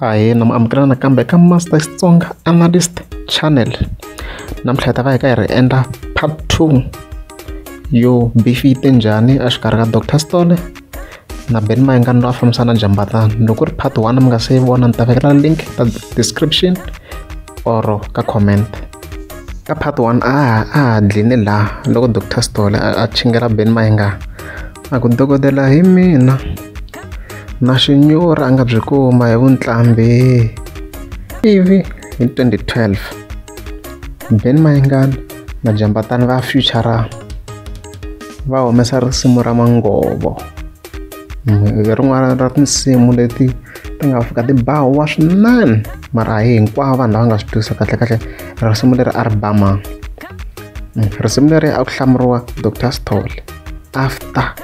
ahee nam amukela nakambe eka master xitsonga analyst channel namuntlha hi ta va hi ka hi ri endla part two yo beef yi te njhani exikarhi ka doctor stole na ben mayengani loyi a fambisana jambatana loko ri part one mi nga se yi vona ni ta vekela link ka description or ka comment ka part one a a dline laha loko doctor stole a chingela ben mayengani a ku dokodela hi mina na xinyura a nga byi kuma hi vuntlambi ivi hi 2012 ben mayingani na jambatani va futura va humesa risimu ra mangovo hi rin'wana ra tinsimu leti ti nga fika ti bahuwa swinene mara a hi hinkwavo vanhu lava nga swi twisa kahle kahle risimu leri a ri bama risimu leri a ku hlamuriwa dr stole after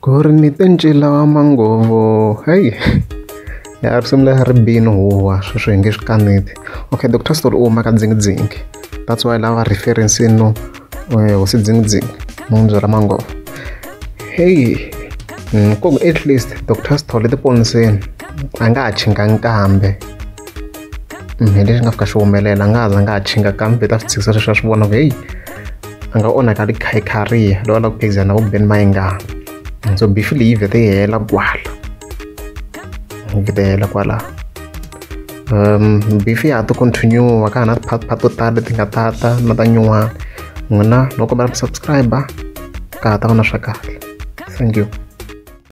ku ri ni te ncila wa mangovo heyi ya risimu leri ri bini huwa sweswi hi nge swi kaneti okay dr story u huma ka dzingidzingi that's why lava reference no eh, hosi dzingidzingi mundzo ra mangovo heyi mm, ku at least dr story tiponiseni a nga ha chinga nkambe hi leswi nga fika swi humelela a nga za nga ha chinga kambe ta swi tshikisa sweswi a swi vona ku heyi a nga onhaka ri khaykhariya lowa la ku phikizana na vubeni mayingana so bifu leyi vhete yi hela kwala vhete yi hela kwala um bifu ya ha to continue ka ha na ti-part part to tala leti nga tata na ta nyuwana n'wina loko va ri subscriber ka ha ta va na swa kahle thank you